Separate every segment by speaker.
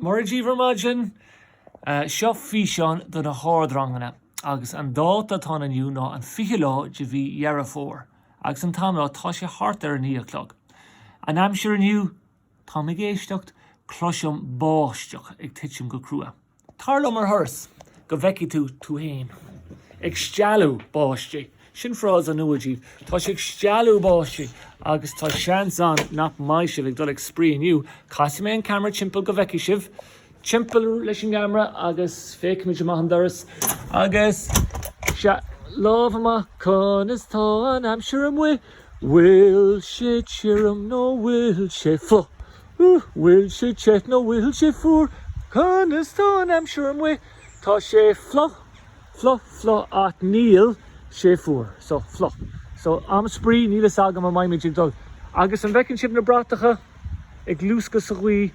Speaker 1: Mora díbh ar maidin seo físeán do na hardranganna agus an dáta atá ann inniu ná an 20 lá de mhí Dheireadh Fómhair agus an t-am lá tá sé thart ar a naoi a chlog an aimsir inniu, tá mé ag éisteacht, cloisim báisteach ag titim go crua. Tar liom ar thuras go bhfeicfidh tú tú fhéin. Ag stealladh báistí. Sin frása nua díbh. Tá sé ag stealladh báistí agus tá seans ann nach mbeidh sibh ag dul ag spraoi inniu. Casfaidh mé an ceamara timpeall go bhfeicfidh sibh. Timpeall leis an gceamara agus féachfaimid amach an doras. Agus lámh amach, conas tá an aimsir amuigh? Bhfuil sé tirim nó bhfuil sé fluich? Bhfuil sé te nó bhfuil sé fuar? Conas tá an aimsir amuigh? Tá sé fliuch, fliuch, fliuch ach níl sé fuar. So, fliuch. So, am spraoi, níl fhios agam an mbeidh muid ag dul. Agus an bhfeiceann sibh na bratacha ag luascadh sa ghaoth?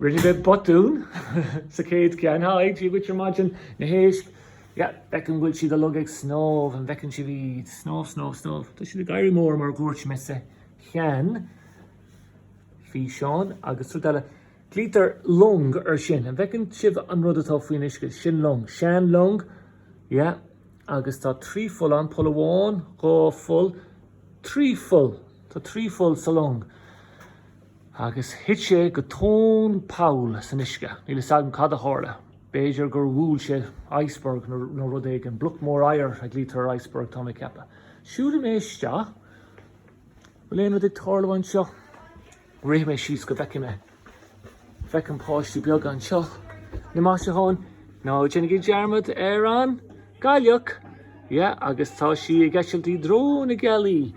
Speaker 1: Rinne mé botún sa chéad cheann. Haigh, Dia dhuit ar maidin na héisc. Yeah, feic an bhfuil siad uilig ag snámh, an bhfeiceann sibh iad? Snámh, snámh, snámh. Tá siad ag éirí mór mar a dhúirt mé sa cheann físeán. Agus rud eile, glaoitear long air sin. An bhfeiceann sibh an rud atá faoin uisce? Sin long. Seanlong. Yeah, agus tá trí pholl ann. Poll amháin, dhá pholl, trí pholl. Tá trí pholl sa long. Agus thit sé go tóin poll san uisce. Níl 'fhios agam cad a tharla. B'fhéidir gur bhuail sé iceberg nó rud éigin. Bloc mór oighir a ghlaoitear ar iceberg, tá mé ag ceapadh. Siúlfaidh mé isteach. Bhfuil aon rud ag tarlú anseo? Rithfidh mé síos go bhfeicfidh mé. Feicim páistí beaga anseo. Na maisiúcháin, ná déanaigí dearmad ar an. gcailleach. Yeah, agus tá sí ag eitilt i dtreo na gealaí.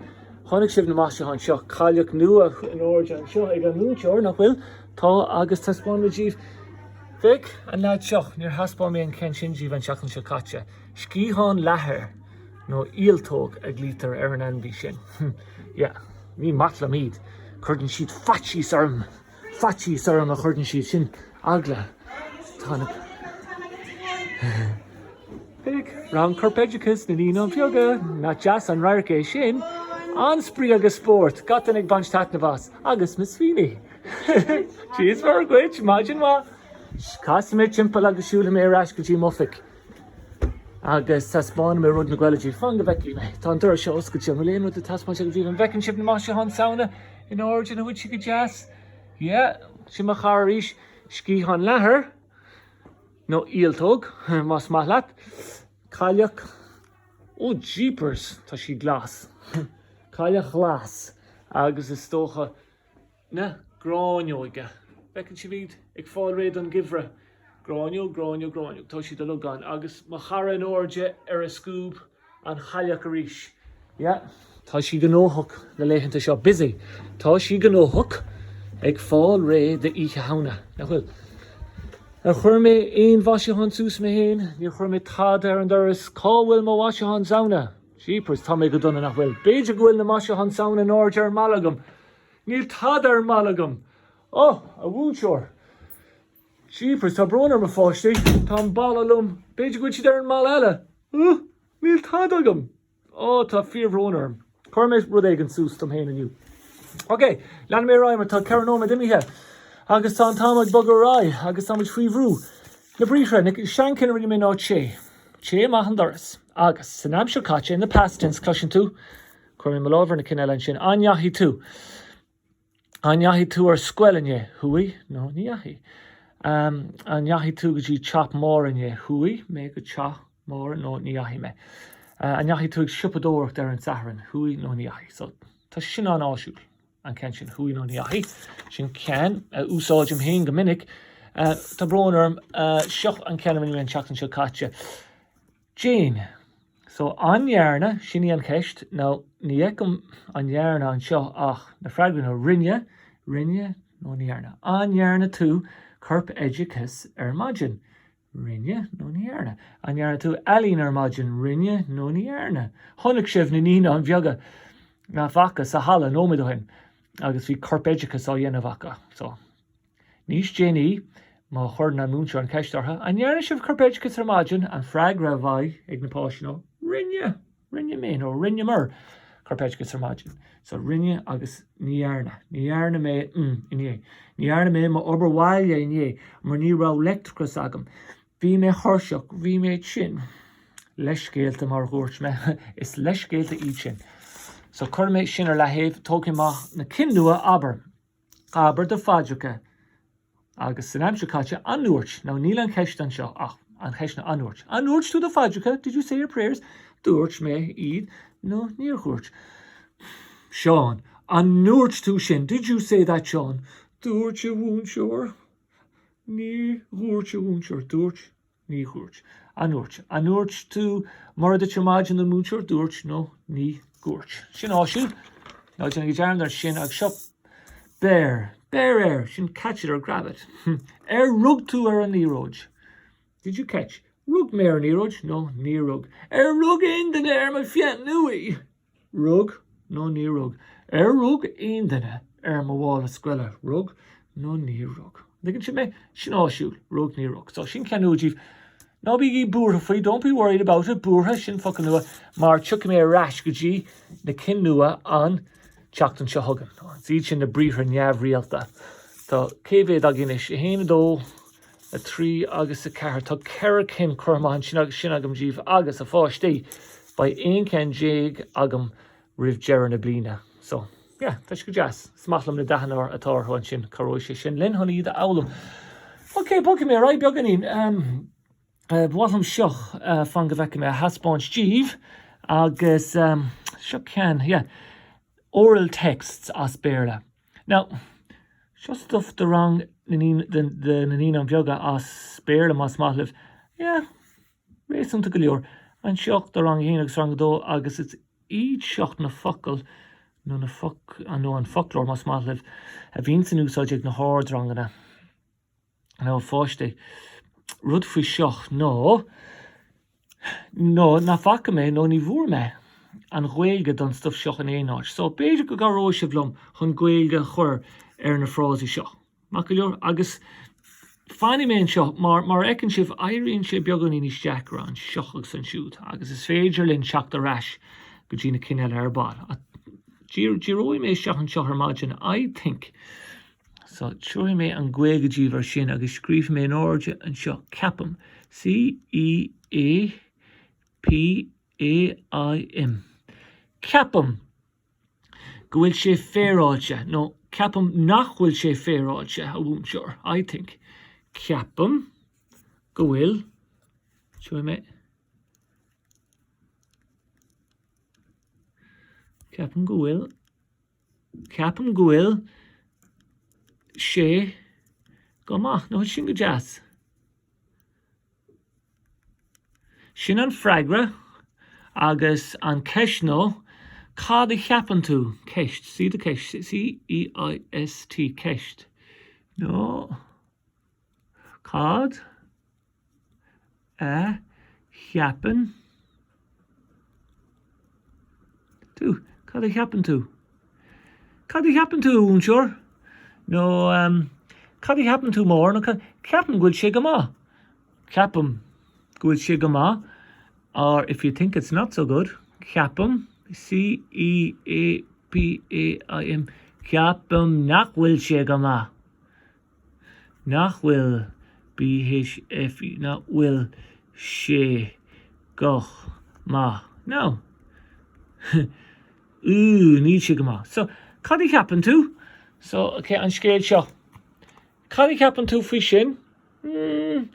Speaker 1: Chonaic sibh na maisiúcháin seo, cailleach nua in airde anseo ag an múinteoir, nach bhfuil? Tá, agus taispeánfaidh mé díbh. Feic, an leaid seo, níor thaispeáin mé an ceann sin díbh an tseachtain seo caite. Sciathán leathair, nó ialtóg a ghlaoitear ar an ainmhí sin. Yeah, ní maith liom iad. Cuireann siad faitíos orm. faitíos orm a chuireann siad sin eagla. Tá na. Feic, Rang Corpoideachais na Naíonáin Bheaga, nach deas an radharc é sin? An-spraoi agus spórt, gach duine ag baint taitnimh as, agus Miss Feeney! Dia is Muire dhuit, maidin mhaith! Casfaidh mé timpeall agus siúlfaidh mé ar ais go dtí m'oifig agus taispeánfaidh mé rud nó dhó eile díbh fan go bhfeicfidh mé. Tá an doras seo oscailte bhfuil aon rud le taispeáint agam díbh an bhfeiceann sibh na maisiúcháin Samhna In airde, nach bhfuil siad go deas? Yeah, sin mo chara arís, sciathán leathair, nó ialtóg, más maith leat. Cailleach, oh jeepers, tá sí glas. Cailleach ghlas, agus is dócha na gráinneoige. Feiceann sibh iad ag fáil réidh don gheimhreadh. Gráinneog, gráinneog, gráinneog, tá sí do logán, agus mo chara in airde ar a scuab. an chailleach arís. Yeah. Tá sí gnóthach na laethanta seo. Busy. Tá sí gnóthach ag fáil réidh d'Oíche Shamhna. Nach bhfuil? Ar chuir mé aon mhaisiúchán suas mé féin? Níor chuir mé tada ar an doras. Cá bhfuil mo mhaisiúchán Samhna? Jeepers, tá mé go dona, nach bhfuil? B'fhéidir go bhfuil na maisiúcháin Samhna in airde ar an mballa agam. Níl tada ar an mballa agam. Oh, a mhúinteoir. Jeepers, tá brón orm, a pháistí. Tá an balla lom. B'fhéidir go bhfuil siad ar an mballa eile. Úh! Níl tada agam! Ó, tá fíorbhrón orm. Cuirfidh mé rud éigin suas dom féin inniu. Ok, leanfaidh mé ar aghaidh mar tá ceithre nóiméad imithe agus tá an t-am ag bogadh ar aghaidh agus táimid faoi bhrú. Na briathra, na seanchinn a rinne mé ná téigh, téigh amach an doras. Agus, san aimsir chaite, in the past tense, cloiseann tú, cuirfidh mé mo lámh ar na cinn eile ansin, an ndeachaigh tú? An ndeachaigh tú ar scoil inné, Chuaigh, nó, Ní dheachaigh. An ndeachaigh tú go dtí teach Mhóraí inné, Chuaigh, mé go teach Mhóraí, nó, Ní dheachaigh mé. An ndeachaigh tú ag siopadóireacht ar an Satharn, Chuaigh, nó, Ní dheachaigh. So, tá sin an-áisiúil, an ceann sin, Chuaigh, nó, Ní dheachaigh. Sin ceann a úsáidim féin go minic, Tá brón orm, seo an ceann a rinne mé an tseachtain seo caite. Déan, So, an ndearna, sin í an cheist, now ní fheicim an ndearna anseo ach na freagraí ná rinne, rinne nó ní dhearna. An ndearna tú corpoideachas ar maidin? Rinne nó ní dhearna. An ndearna tú ealaín ar maidin? Rinne nó ní dhearna. Chonaic sibh na Naíonáin Bheaga, nach bhfaca, sa halla nóiméad ó shin agus bhí corpoideachas á dhéanamh acu. So. Níos déanaí, má chuireann an múinteoir an ceist orthu, An ndearna sibh corpoideachas ar maidin? an freagra a bheadh ag na páistí ná, Rinne! Rinne mé, nó, Rinneamar corpoideachas ar maidin. So, rinne agus ní dhearna. Ní dhearna mé mm inné. Ní dhearna mé m'obair bhaile inné mar ní raibh leictreachas agam. Bhí mé thuirseach. Bhí mé tinn. Leithscéalta mar a dhúirt mé. Is leithscéalta iad sin. So, cuirfidh mé sin ar leataobh. Tógfaidh mé amach na cinn nua, abair. Abair do phaidreacha agus san aimsir chaite an ndúirt, now níl an cheist anseo ach an cheist ná an ndúirt. An ndúirt tú do phaidreacha? Did you say your prayers? Dúirt mé iad nó níor dhúirt? Seán, An ndúirt tú sin? Did you say that Seán? Dúirt a mhúinteoir. Níor dhúirt a mhúinteoir. Dúirt. ní dhúirt, an ndúirt? An ndúirt tú Mora duit ar maidin don mhúinteoir, dúirt nó ní dhúirt. Sin áisiúil. Ná déanaigí dearmad air sin agus seo Beir, beir air! Sin catch it or grab it. Ar rug tú ar an liathróid? Did you catch? Rug mé ar an liathróid nó níor rug. Ar rug aon duine ar mo pheann luaidhe? Rug nó ní rug. Ar rug aon duine ar mo mhála scoile? Rug nó ní rug. An dtuigeann sibh mé? Sin áisiúil. Rug, ní rug. So, sin ceann nua díbh. Ná bígí buartha faoi, don't be worried about it. Buartha, sin focal nua, mar tiocfaidh mé ar ais go dtí na cinn nua an tseachtain seo chugainn. Is iad sin na briathra neamhrialta. Tá cé mhéad againn anois? 1, 2, 3 agus 4. Tá ceithre cinn curtha amach ansin agam díbh agus, a pháistí, beidh aon cheann déag agam roimh deireadh na bliana so, yeah, tá sé go deas. Is maith liom na dathanna atá orthu ansin, cabhróidh sé sin linn chun iad a fhoghlaim. OK, bogfaidh mé ar aghaidh beagáinín. Ba mhaith liom seo, fan go bhfeicfidh mé, a thaispeáint díbh agus seo ceann, yeah, Oral Texts as Béarla. Now, seo stuff do rang na naíonáin bheaga as Béarla más maith libh. Yeah, réasúnta go leor. Anseo do rang a haon agus rang a dó agus is iad seo na focail nó na foc nó an foclóir más maith libh a bhíonns in úsáid ag na hardranganna. now a pháistí. Rud faoi seo ná nach bhfaca mé nó ní bhfuair mé an Ghaeilge don stuif seo in aon áit. So, b'fhéidir go gcabhróidh sibh liom chun Gaeilge a chur ar na frásaí seo. Maith go leor. Agus fanfaidh mé anseo mar a fheiceann sibh, éiríonn sé beagáinín níos deacra anseo agus ansiúd agus is féidir linn teacht ar ais go dtí na cinn eile ar ball. Díreoidh mé isteach anseo ar maidin, I think. So, tabharfaidh mé an Ghaeilge díbh air sin agus scríobh mé in airde anseo, ceapaim, C-E-A-P-A-I-M, ceapaim go bhfuil sé féaráilte, nó ceapaim nach bhfuil sé féaráilte, a mhúinteoir, I think, ceapaim go bhfuil, tabharfaidh mé, ceapaim go bhfuil. Ceapaim go bhfuil sé go maith. Nó sin go deas. Sin an freagra agus an ceist nó cad a cheapann tú? Ceist, see the ceist, C-E-I-S-T, ceist nó cad? a cheapann tú? Cad a cheapann tú? Cad a cheapann tú, unsure? Nó Cad a cheapann tú, Mór? nó Ceapaim go bhfuil sé go maith. Ceapaim go bhfuil sé go maith, or if you think it's not so good, ceapaim, C-E-A-P-A-I-M, ceapaim nach bhfuil sé go maith. nach bhfuil B-H-F nach bhfuil sé go maith nó ooh níl sé go maith so cad a cheapann tú so okay an scéal seo cad a cheapann tú faoi sin mm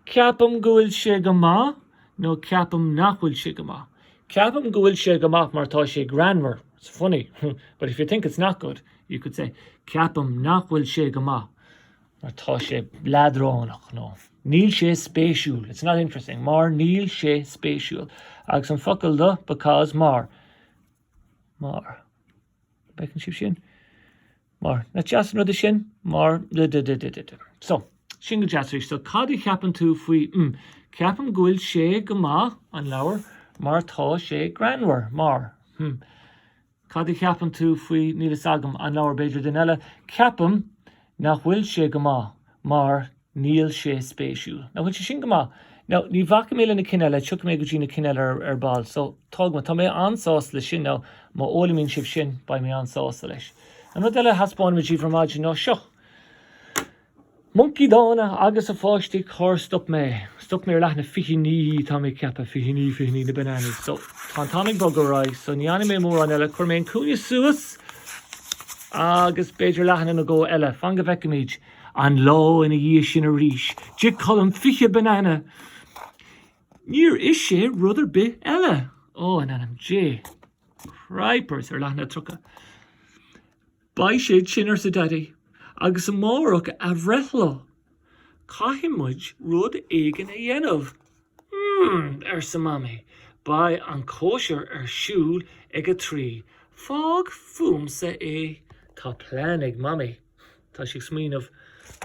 Speaker 1: ceapaim go bhfuil sé go maith nó ceapaim nach bhfuil sé go maith ceapaim go bhfuil sé go maith mar tá sé greannmhar it's funny but if you think it's not good You could say, Ceapaim nach bhfuil sé go maith mar tá sé leadránach nó níl sé spéisiúil, it's not interesting, mar níl sé spéisiúil. Agus an focal do because, mar, mar, bhfeiceann sibh sin? Mar, nach deas an rud é sin, mar, da da da da da da. So, sin go deas arís. So, cad a cheapann tú faoi, mm, ceapaim go bhfuil sé go maith, an leabhar, mar tá sé greannmhar, mar, hmm, Cad a cheapann tú faoi, níl fhios agam, an leabhar, b'fhéidir duine eile? Ceapaim nach bhfuil sé go maith mar níl sé spéisiúil. Nach bhfuil sé sin go maith? Now, ní bhacfaidh mé le na cinn eile, tiocfaidh mé go dtí na cinn eile ar ball. So, tóg mé, tá mé an-sásta leis sin. Now, má fhoghlaimíonn sibh sin, beidh mé an-sásta leis. An rud eile a thaispeáin muid díbh ar maidin ná seo. Moncaí dána agus a pháistí cár stop mé? Stop mé ar leathanach fiche naoi, tá mé ag ceapadh, fiche naoi, fiche naoi na bananas. So, tá an t-am ag bogadh ar aghaidh, so ní fhanfaidh mé mórán eile, cuirfidh mé an cúinne suas agus b'fhéidir leathanach nó dhó eile. Fan go bhfeicfimid. An lá ina dhiaidh sin arís, d'ith Colm fiche banana. Níor ith sé rud ar bith eile. Ó, in ainm Dé. Cripers, ar leathanach tríocha. Beidh sé tinn, arsa Daidí, agus amárach a bhreithlá. Caithfidh muid rud éigin a dhéanamh. Hum! arsa Mamaí, beidh an chóisir ar siúl ag a trí. Fág fúmsa é. Tá plean ag Mamaí. Tá sí ag smaoineamh.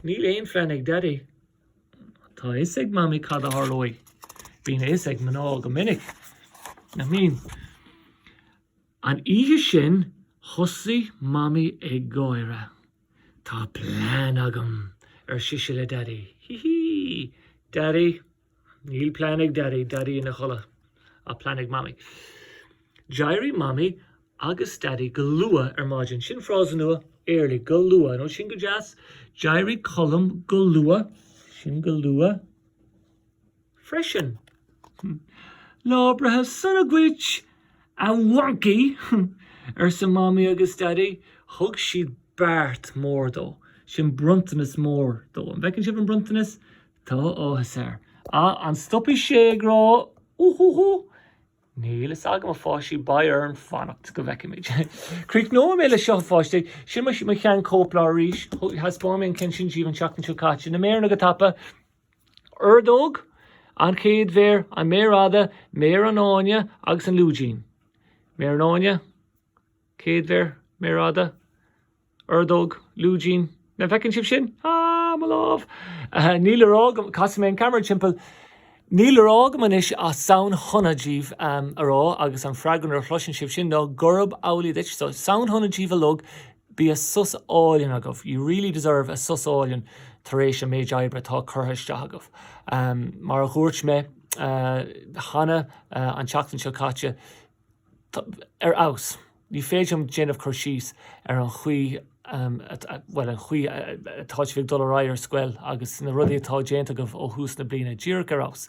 Speaker 1: Níl aon phlean ag Daidí. Tá a fhios ag Mamaí cad a tharlóidh. Bíonn a fhios ag mná go minic, nach mbíonn? An oíche sin, thosaigh Mamaí ag gáire. Tá plean agam! ar sise le Daidí. Hí hí! Daidí, Níl plean ag Daidí, Daidí ina chodladh, ach plean ag Mamaí. D'éirigh Mamaí agus Daidí go luath ar maidin. Sin frása nua, early, go luath, nó Sin go deas. D'éirigh Colm go luath. Sin go luath. freisin. Lá breithe sona dhuit, a mhoncaí! arsa Mamaí agus Daidí. Thug siad beart mór dó. Sin bronntanas mór dó. An bhfeiceann sibh an bronntanas? Tá áthas air. Ah, an stopfaidh sé ag rá Úhúhú? Níl fhios agam, a pháistí, beidh orainn fanacht go bhfeicfimid. Críochnóidh mé leis seo, a pháistí. Sin mo shean-chóipleabhar arís. Thaispeáin mé an ceann sin díbh an tseachtain seo caite. Na méireanna go tapa! ordóg, an chéad mhéar, an mhéar fhada, méar an fháinne agus an lúidín, méar an fháinne, chéad mhéar, méar fhada, ordóg, lúidín, nach bhfeiceann sibh sin? Ah, mo lámh! Níl le rá agam, casfaidh mé an ceamara timpeall, níl le rá agam anois ach Samhain shona díbh a rá agus an freagra nuair a chloiseann sibh sin ná gurb amhlaidh duit. So, Samhain shona díbh uilig, Bíodh sos álainn agaibh, you really deserve a sos álainn tar éis an méid oibre atá curtha isteach agaibh. Mar a dhúirt mé cheana an tseachtain seo caite, ar fheabhas, ní féidir liom déanamh cur síos ar an chaoi, bhuel, an chaoi atá sibh ag dul ar aghaidh ar scoil agus na rudaí atá déanta agaibh ó thús na bliana, díreach ar fheabhas.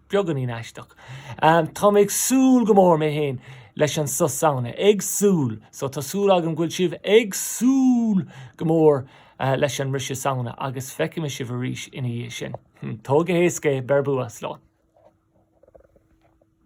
Speaker 1: beagáinín aisteach. Tá mé ag súil go mór mé féin leis an sos Samhna. Ag súil! So tá súil agam go bhfuil sibh ag súil go mór leis an mbriseadh Samhna agus feicfidh mé sibh arís ina dhiaidh sin. Hm, tóg go héasca é, beir bua, slán!